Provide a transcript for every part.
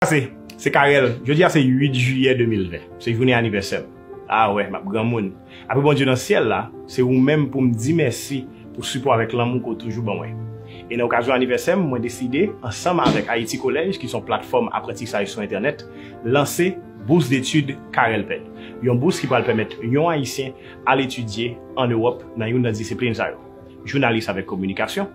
Pase, se Carel, jodi a se 8 jiyè 2020, se jounen anivèsè m. A wè, m ap granmoun. Apre Bondye nan syèl la, se ou menm pou m di mèsi pou sipò avèk lanmou ke w toujou ban mwen. E nan okazyon anivèsè m, mwen deside, ansanm avèk Ayiti Kolèj ki s on platfòm aprantisaj sou entènèt, lanse Bourse d'études Carelped, yon bous ki pral pèmèt yon Ayisyen al etidye an Ewòp nan youn nan disiplin sa yo. jounalis avèk kominikasyon,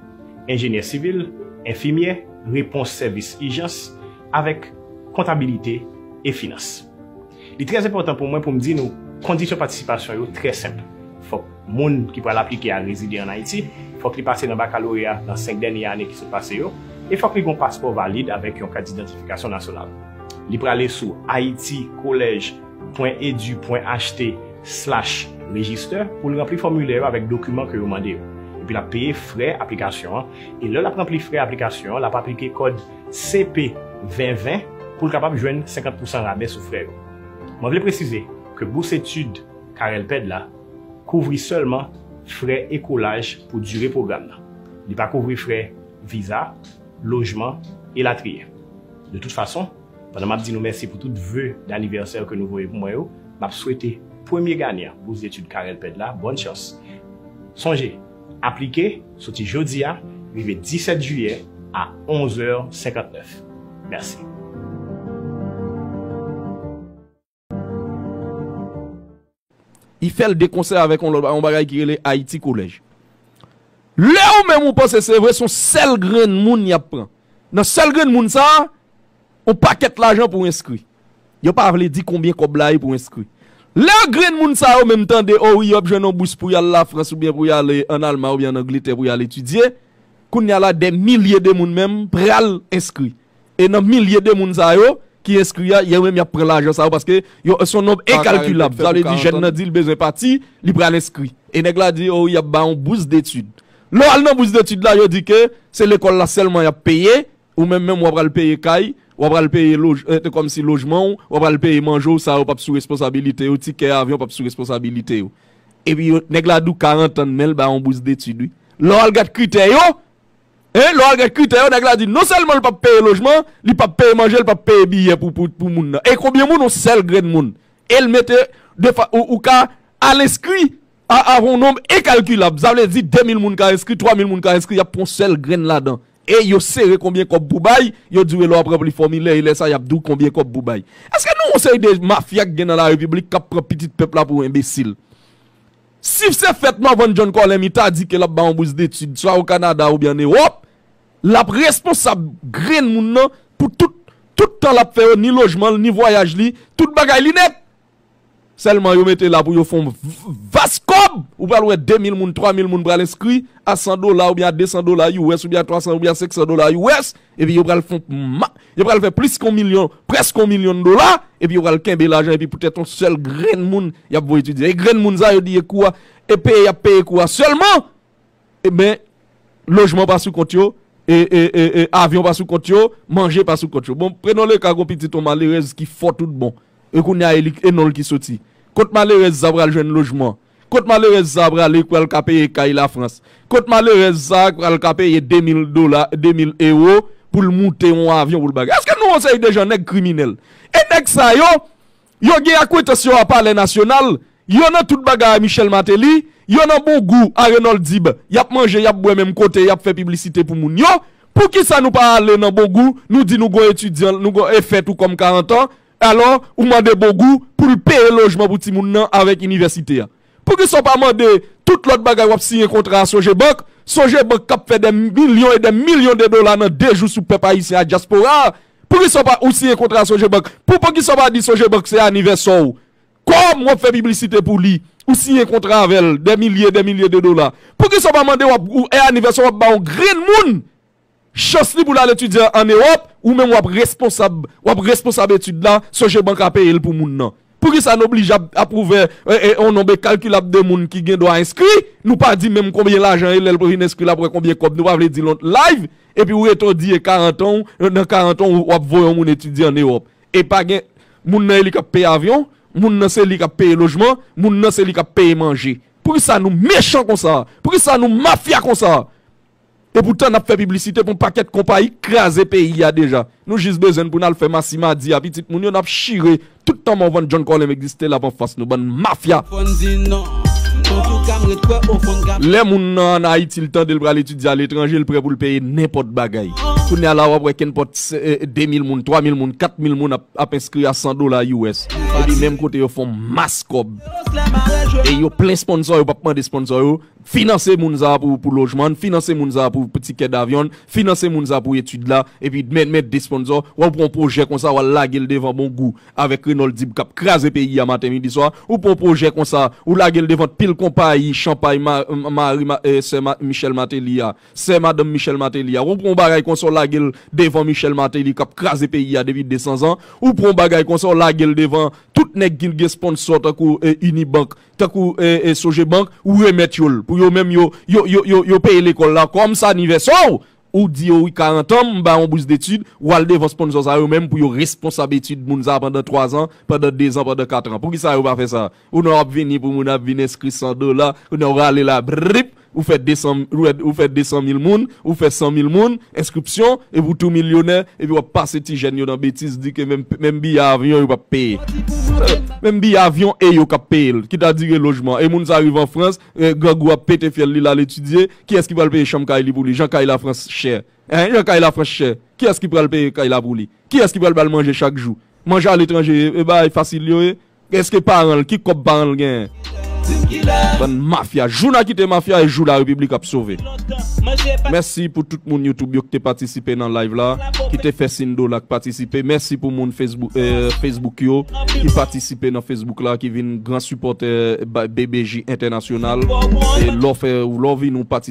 enjenyè sivil, enfimyè, repons sèvis ijans, avèk kontabilite e finans. Li trè enpòtan pou mwen pou m di nou kondisyon patisipasyon yo trè senp, fòk moun ki pral aplike a rezide ann Ayiti, fòk li pase nan bakaloreya nan senk dènye ane ki sot pase yo, e fòk li gen yon paspò valid avèk yon kat didentifikasyon nasyonal. Li prale sou Haiti College. www.edu.ht slash register pou l ranpli fòmilè yo avèk dokiman ke yo mande yo. Epi l ap peye frè aplikasyon an, e lè l ap ranpli frè aplikasyon an l ap aplike kòd CP 20 20 pou l kapab jwenn 50 pousan rabè sou frè yo. Mwen vle presize ke bous etid Carelped la kouvri sèlman frè ekolaj pou dire pwogram nan. Li pa kouvri frè viza, lojman, elatriye. De tout fason. Pandan map di nou mèsi pou tout vœux d'anniversaire ke nou voye pou mwen yo, map swete premye ganyan bous detid Carel Pèd la bòn chans. Sonje, aplike soti jodi a rive 17 jiyè a 11 è 59. Mèsi. Li fè l de konsè avèk yon lòt bagay ki rele Haiti College. Lè ou menm ou panse se vre, se yon sèl grenn moun y ap pran. Nan sèl grenn moun sa a, yon pakèt lajan pou enskri. Yo pa vle di konbyen kòb la ye pou enskri. Lè grenn moun sa yo menm tande o wi yo ap jwenn yon bous pou y al Lafrans oubyen pou y ale ann Alman oubyen ann Angletè pou y al etidye, kounye a la dè milye de moun menm pral enskri. E nan milye de moun sa yo ki enskri a, yo menm y ap pran lajan sa yo paske yo se yon nonb enkalkilab. Sa vle di jèn nan di li bezwen pati, li pral enskri. E nèg la di, o wi y ap ba ou bous detid. Lè w al nan bous detid la, yo di ke se lekòl la sèlman y ap peye, ou menm menm w ap pral peye kay, w ap pral peye kòmsi lojman w, w ap pral peye manje w, sa yo p ap sou responsabilite yo, tikè avyon p ap sou responsabilite yo. Epi nèg la di w karantan men l ba ou bous detid wi. Lè w al gad kritè yo, E lè w al gad kritè yo nèg la di non sèlman l pap peye lojman, li pap peye manje, li pap peye biyè pou moun nan. E konbyen moun yon sèl grenn moun. E l mete defa ou ka al enskri avè yon nonb enkalkilab. Sa vle di 2000 moun ka enskri, 3000 moun ka enskri y ap pran yon sèl grenn ladan. E yo sere konbyen kòb pou bay, yo di w e lè w ap ranpli fòmilè e lè sa y ap di w konbyen kòb pou bay. Eske nou wè yon seri de mafya ki gen nan larepiblik k ap pran pitit pèp la pou enbesil? Si se fèt Morvan John Corlemy ta di ke l ap bay yon bous detid swa o Kanada oubyen ann Ewòp, l ap responsab grenn moun nan pou tout tout tan l ap fè yo, ni lojman l, ni vwayaj li, tout bagay li nèt! Sèlman yo mete la pou yo fè yon vas kòb! Ou pral wè 2 mil moun, 3 mil moun pral enskri a 100 dola oubyen a 200 dola US oubyen a 300 oubyen a 500 dola US Epi yo pral fon ma, yo pral fè plis kon milyon, prèske yon milyon dola, epi yo pral kenbe lajan epi pou tèt yon sèl grenn moun y ap voye etidye. E grenn moun sa yo di ye kou a, e peye y ap peye kou a sèlman, e ben lojman pa sou kont yo, e, e, e, e, avyon pa sou kont yo, manje pa sou kont yo. Bon, prenon le ka yon pitit yon malerèz ki fò tout bon, e kounye a e li, e non l ki soti. Kot malerèz sa pral jwenn lojman? Kot malerèz sa prale k pral ka peye kay la France? Kot malerèz sa k pral ka peye 2000 dola 2000 ewo pou l moute yon avyon pou l bagay? Eske nou yon seri de jan nèg kriminèl? E nèg sa yo, yo gen akwentans yo a palè nasyonal, yo nan tout bagay a Michel Martelly, yo nan bon gou a Renold Dib, y ap manje, y ap bwè menm kote, y ap fè piblisite pou moun yo, poukisa nou pa ale nan bon gou nou di nou gon etidyan, nou gon efè tou kòm 40 an, Alò, ou mande Bogou pou l peye lojman pou timoun nan avèk inivèsite a. Poukisa w pa mande tout lòt bagay w ap siyen kontra a Sogebank, Sogebank k ap fè dè milyon e dè milyon de dola nan 2 jou sou pèp ayisyen ak dyaspora a? Poukisa w pa ou siyen kontra a Sogebank? Pou poukisa w pa di Sogebank se anivèsè w? Kòm w ap fè piblisite pou li, ou siyen kontra avè l dè milye e dè milye de dola. Poukisa w pa mande w ap ou e anivèsè w ap ba yon grenn moun Chans li pou l al etidye an Ewòp, ou menm w ap responsab, w ap responsab etid la, sonje bank la peye l pou moun nan. Poukisa n oblije ap ap ouvè yon nonb ekalkilab de moun ki gen dwa enskri, nou pa di menm konbyen lajan e lè l pou vin enskri l ap wè konbyen kòb nou pa vle di l on live, epi ou rete ou di e 40 an w, nan 40 an w w ap voye yon moun etidye an Ewòp. E pa gen, moun nan e li k ap peye avyon, moun nan se li k ap peye lojman, moun nan se li k ap peye manje. Poukisa nou mechan konsa? Poukisa nou mafya konsa? Epoutan nap fè piblisite pou yon pakèt konpayi k kraze peyi a deja. Nou jis bezwenn pou nal fè masi madi a pitit moun yo nap chire tout tan mò van John Colem egziste lap anfas nou bann mafya. Lè moun nan an Ayiti l tande l pral etidye a letranje l prè pou l peye nenpòt bagay. Kounye a la wap wè kenpòt 2000 moun, 3000 moun, 4000 moun ap enskri a 100 dola US. Epi menm kote yo fon mas kòb. E yo plen sponsò yo pap mande sponsò yo. Finanse moun sa a pou lojman n, finanse moun sa a pou tikè davyon n, finanse moun sa a pou etid la, epi dmen men de sponzò, wè ou pran yon pwojè konsa wal lage l devan bon gou avèk Renòl Dib kap kraze peyi a maten midi swa, ou pran yon pwojè konsa ou lage l devan pil konpayi chanpay mari sè Michèl Mateli a, sè madanm Michèl Mateli a, wè ou pran yon bagay konsa w lage l devan Michèl Mateli kap kraze peyi a depi 200 zan, ou pran yon bagay konsa w lage l devan tout nèg ki gen sponnsò tankou Unibank, tankou Sogebank ou remèt yo l pou yo menm yo yo peye lekòl la kòm sa anivèsè w ou di yo wi 40 an m ba w yon bous detid w al devan sponsò sa yo menm pou yo responsab etid moun sa pandan 3 zan pandan 2 zan pandan 4 an poukisa yo pa fè sa ou nan w ap vini pou moun ap vin enskri 100 dola ou nan w rale la brip. Ou fè 200, ou fè 200 mil moun, ou fè 100 mil moun, enskripsyon, epi ou tou milyonè, epi wap pase ti jèn yo nan betiz di ke menm, menm biyè avyon yo pap peye. Menm biyè avyon e yo kap peye l, kita dire lojman. E moun sa rive an Frans, grangou ap pete fyèl li lal etidye, kiyès ki pral peye chanm kay li pou li, jan kay la Frans chè? Hein, jan kay la Frans chè, kiyès ki pral peye kay la pou li? Kiyès ki pral bal manje chak jou? Manje aletranje e bagay fasil yo ye? Eske paran l ki kòb paran l genyen. Bann mafya jou na kite mafya e jou la repiblik ap sove. Mèsi pou tout moun YouTube yo ki te patisipe nan live la ki te fè sin dola ki patisipe mèsi pou moun Facebook yo ki patisipe nan Facebook la ki vin gran sipòtè BBJ entènasyonal e lò fè ou lò vin ou patisipe.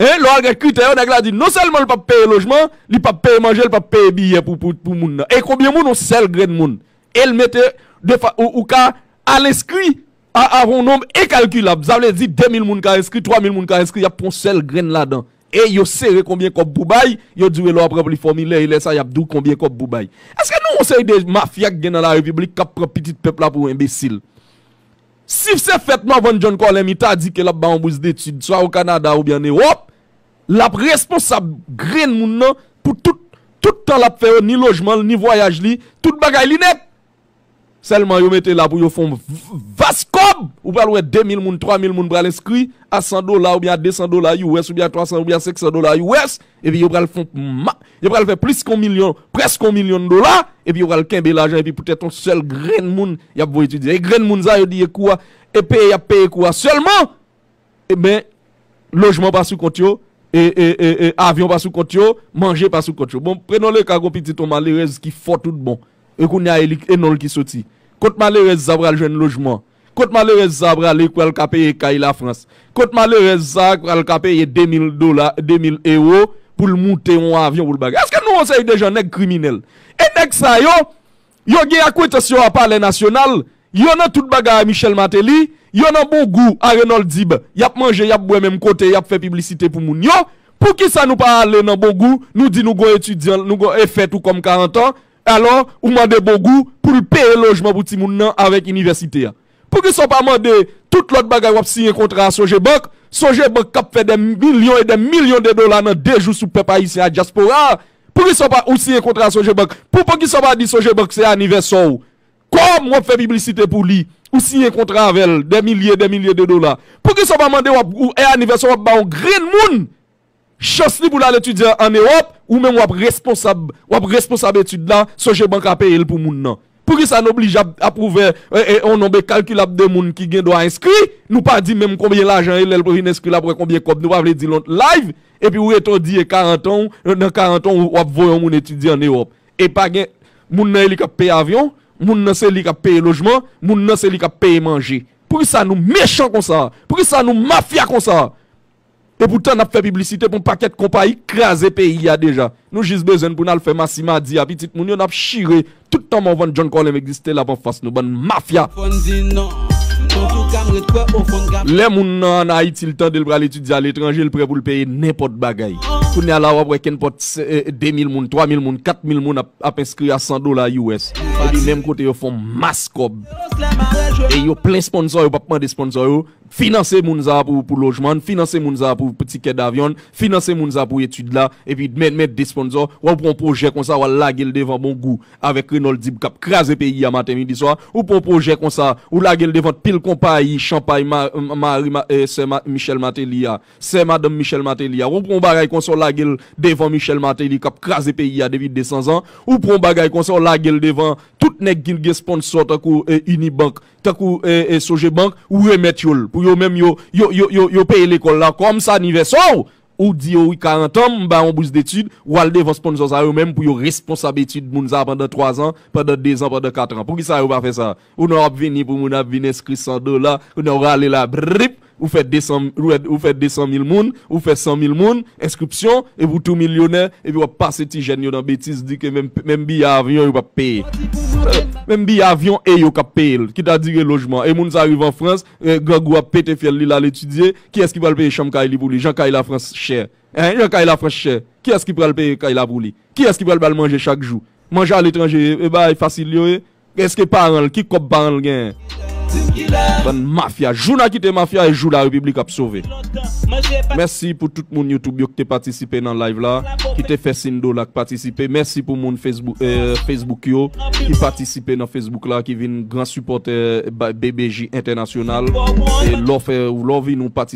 E, lè w al gad kritè yo, nèg la di non sèlman l pap peye lojman, li pap peye manje, li pap peye biyè pou pou moun nan. E konbyen moun yon sèl grenn moun? E l mete de fa ou ou ka al enskri a avè yon nonb enkalkilab. Sa vle di 2000 moun ka enskri, 3000 moun ka enskri, y ap pran yon sèl grenn ladan. E yo sere konbyen kòb pou bay, yo di w e lè w ap ranpli fòmilè e lè sa y ap di w konbyen kòb pou bay. Èske nou wè yon seri de mafya k gen nan larepiblik k ap pran pitit pèp la pou enbesil? Si se fèt Morvan John Colin mi ta di ke l ap ba yon bous detid swa o Kanada oubyen an Ewòp, l ap responsab grenn moun nan pou tout tout tan l ap fè yo, ni lojman l, ni vwayaj li, tout bagay li nèt! Sèlman yo mete la pou yo fè yon vas kòb! Ou pral wè 2 mil moun, 3 mil moun pral enskri a 100 dola oubyen a 200 dola US oubyen a 300 oubyen a 500 dola US Epi yo pral fon ma, yo pral fè plis kon milyon, prèsk yon milyon dola, epi yo pral kenbe lajan epi poutèt yon sèl grenn moun yap voye etidye. E grenn moun sa yo di e kou a, e peye yap peye kou a sèlman, e ben lojman pa sou kont yo, e e e e avyon pa sou kont yo, manje pa sou kont yo. Bon, prenon le ka gon pitit yon malerèz ki fò tout bon, e kounya e li, e non li ki soti. Kot malerèz sa pral jwenn lojman? Kot malerèz sa prale k pral ka peye kay la France? Kot malerèz sa k pral ka peye 2000 dola 2000 euro pou l moute yon avyon pou l bagay? Eske nou yon seri de jan nèg kriminèl? E nèg sa yo, yo gen akwentans yo a palè nasyonal, yo nan tout bagay a Michel Martelly, yo nan bon gou a Renold Dib, y ap manje, y ap bwè menm kote, y ap fè piblisite pou moun yo, poukisa nou pa ale nan bon gou nou di nou gon etidyan, nou gon efè tou kòm 40 ans, Alò, ou mande Bongou pou l peye lojman pou timoun nan avèk inivèsite a. Poukisa w pa mande tout lòt bagay w ap siyen kontra a sonje bank, sonje bank k ap fè dè milyon e dè milyon de dola nan de jou sou pèp ayisyen ak dyaspora a? Poukisa w pa ou siyen kontra a sonje bank? Pou poukisa w pa di sonje bank se anivèsè w? Kòm w ap fè piblisite pou li, ou siyen kontra avè l dè milye e dè milye de dola. Poukisa w pa mande w ap ou e anivèsè w ap ba yon grenn moun Chans li pou l al etidye an Ewòp, ou menm w ap responsab, w ap responsab etid la, sonje bank la peye l pou moun nan. Poukisa n oblije ap ap ouvè yon nonb enkalkilab de moun ki gen dwa enskri, nou pa di menm konbyen lajan e lè l pou vin enskri l ap wè konbyen kòb nou pa vle di l on live, epi ou rete ou di e 40 an w, nan 40 an w w ap voye yon moun etidye an Ewòp. E pa gen, moun nan e li k ap peye avyon, moun nan se li k ap peye lojman, moun nan se li k ap peye manje. Poukisa nou mechan konsa? Poukisa nou mafya konsa? Epoutan nap fè piblisite pou yon pakèt konpayi k kraze peyi a deja. Nou jis bezwenn pou nal fè masi madi a pitit moun yo nap chire tout tan Morvan John Colem egziste lap anfas nou bann mafya. Lè moun nan an Ayiti l tande l pral etidye a letranje l prè pou l peye nenpòt bagay. Kounye a la wap wè kenpòt 2000 moun, 3000 moun, 4000 moun ap enskri a 100 dola US. Epi menm kote yo fon mas kòb. E yo plen sponsò yo pap mande sponsò yo. Finanse moun sa a pou lojman n, finanse moun sa a pou tikè davyon n, finanse moun sa a pou etid la, epi dmen men de sponzò, wè ou pran yon pwojè konsa wal lage l devan bon gou avèk Renòl Dib kap kraze peyi a maten midi swa, ou pran yon pwojè konsa ou lage l devan pil konpayi chanpay mari sè Michèl Mateli a, sè madanm Michèl Mateli a, wè ou pran yon bagay konsa w lage l devan Michèl Mateli kap kraze peyi a depi 200 zan, ou pran yon bagay konsa w lage l devan tout nèg ki gen sponnsò tankou Unibank tankou Sogebank ou remèt yo l pou yo menm yo yo peye lekòl la kòm sa anivèsè w ou di yo wi 40 an m ba w yon bous detid w al devan sponsò sa yo menm pou yo responsab etid moun sa pandan 3 zan pandan 2 zan pandan 4 an poukisa yo pa fè sa ou nan w ap vini pou moun ap vin enskri 100 dola kounye a w rale la brip. Ou fè 200 ou fè 200 mil moun, ou fè 100 mil moun enskripsyon epi ou tou milyonè epi wap pase ti jèn yo nan betiz di ke menm menm biye avyon yo pap peye. Menm biye avyon e yo kap peye l, kita dire lojman. E moun sa rive an Frans, grangou ap pete fyèl li l al etidye, kiyès ki pral peye chanm kay li pou li jan kay la Frans chè? Hein jan kay la Frans chè, kiyès ki pral peye kay la pou li? Kiyès ki pral ba l manje chak jou? Manje aletranje e bagay fasil yo ye? Eske paran l ki kob paran l genyen bann mafya jou na kite mafya e jou la repiblik ap sove mèsi pou tout moun YouTube yo ki te patisipe nan live la ki te fè sindola ki patisipe mèsi pou moun Facebook yo ki patisipe nan Facebook la ki vin gran sipòtè BBJ entènasyonal e lò fè ou lò vin ou patisipe.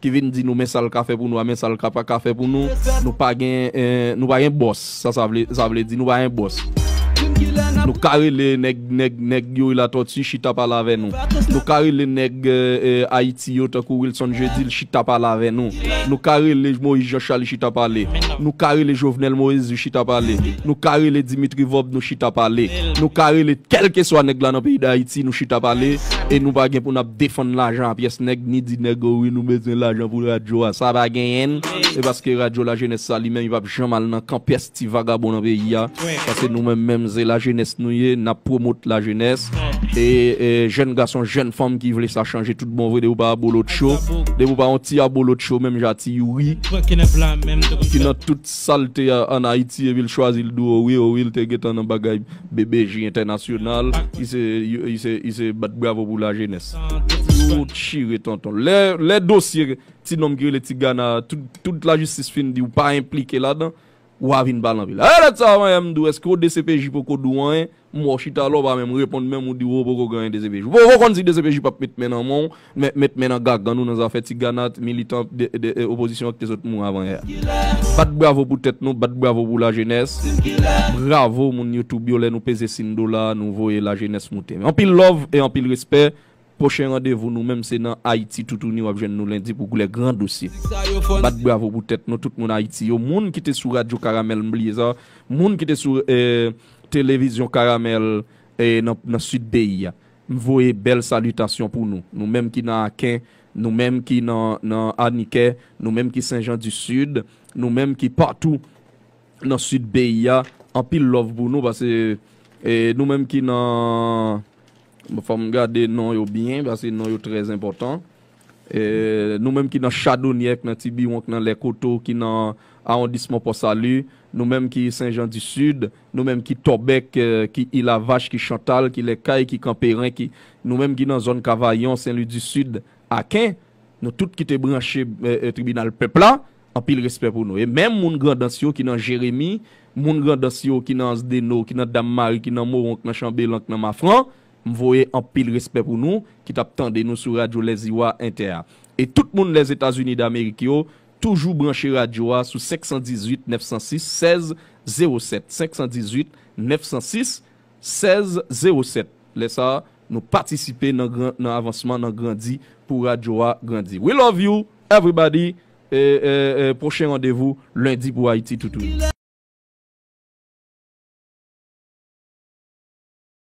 Ki vin di nou men sa l ka fè pou nou a men sa l ka pa ka fè pou nou. Nou pa gen nou pa gen bòs sa sa vle sa vle di nou pa gen bòs. Nou ka rele nèg nèg nèg Youri Latortue chita pale avè nou. Nou ka rele nèg Ayiti yo tankou Wilson Jeudil chita pale avè nou. Nou ka rele Moïse Jean Charles chita pale. Nou ka rele Jovenel Moezu chita pale. Nou ka rele Dimitri Vorb nou chita pale. Nou ka rele kèlkeswa nèg la nan peyi Dayiti nou chita pale e nou pa gen pou n ap defann lajan a pyès nèg ni di nèg o wi nou bezwen lajan pou radyo a sa pa genyenn e paske radyo la jenès sa li menm li pap janm al nan kan pyès ti vagabon nan peyi a paske nou menm menm se la jenès nou ye nap pwomot la jenès e jèn gason jèn fanm ki vle sa chanje tout bon vre depi w pa abolotcho depi w pa yon ti abolotcho menm jan a ti youri ki nan tout salte a an ayiti epi l chwazi l di w o wi o wi l te gentan nan bagay BBJ entènasyonal i se bat bravo pou la jenès. Yo chire tonton. Lè dosye ti nonm ki rele Tigana a tout la jistis fin di ou pa enplike ladan, wa vin pale anpil. Ayè dat sa mwen menm di w eske w dcpj poko di w anyen, m wè w chita la w pa menm reponn menm ou di w poko gen anyen dcpj. Ou poko konn si dcpj pap met men nan men w. Mèt met men nan gagann ou nan zafè ti ganat, militan opozisyon ak te sot mou avan yè a. Bat bravo pou tèt nou, bat bravo pou lajenès. Bravo moun YouTube yo lè nou peze sin dola nou voye lajenès moute. Anpil love e anpil respè. Pwochen randevou nou menm se nan Ayiti toutouni wap jwenn nou lendi pou gouler gran dosye. Bat bravo pou tèt nou tout moun Ayiti yo, moun ki te sou radyo karamèl m bliye sa, moun ki te sou televizyon karamèl nan sud peyi a. M voye bèl salitasyon pou nou, nou menm ki nan Aken, nou menm ki nan nan Anikè, nou menm ki Sen Jan di Sid, nou menm ki patou nan Sid peyi a, anpil love pou nou pase e nou menm ki nan fò m gade non yo byen pase non yo trè zenpòtan. Nou menm ki nan Chadonyè, k nan Tibiwon, k nan Lèkoto, ki nan awondisman Pò Sali, nou menm ki Sen Jan di Sid, nou menm ki Tòbèk, ki Ilavach, ki Chantal, ki Lèkay, ki Kanperen, ki nou menm ki nan zòn Kavayon, Sen Lwi di Sid, Aken, nou tout ki te branche Tribinal Pèp la, anpil respè pou nou. E menm moun Grandans yo ki nan Jeremi, moun Grandans yo ki nan Ansdeno, ki nan Dam Mari, ki nan Mowon, k nan Chanbelan, k nan Mafran, M voye anpil respè pou nou ki t ap tande nou sou radyo Lèziwa Entè a. E tout moun Lèzetazini Damerik yo toujou branche radyo a sou 518 906 16 07, 518 906 16 07. Lè sa a, nou patisipe nan gran nan avansman nan grandi pou radyo a grandi. We love you everybody e e e pwochen randevou lendi pou Ayiti toutouni.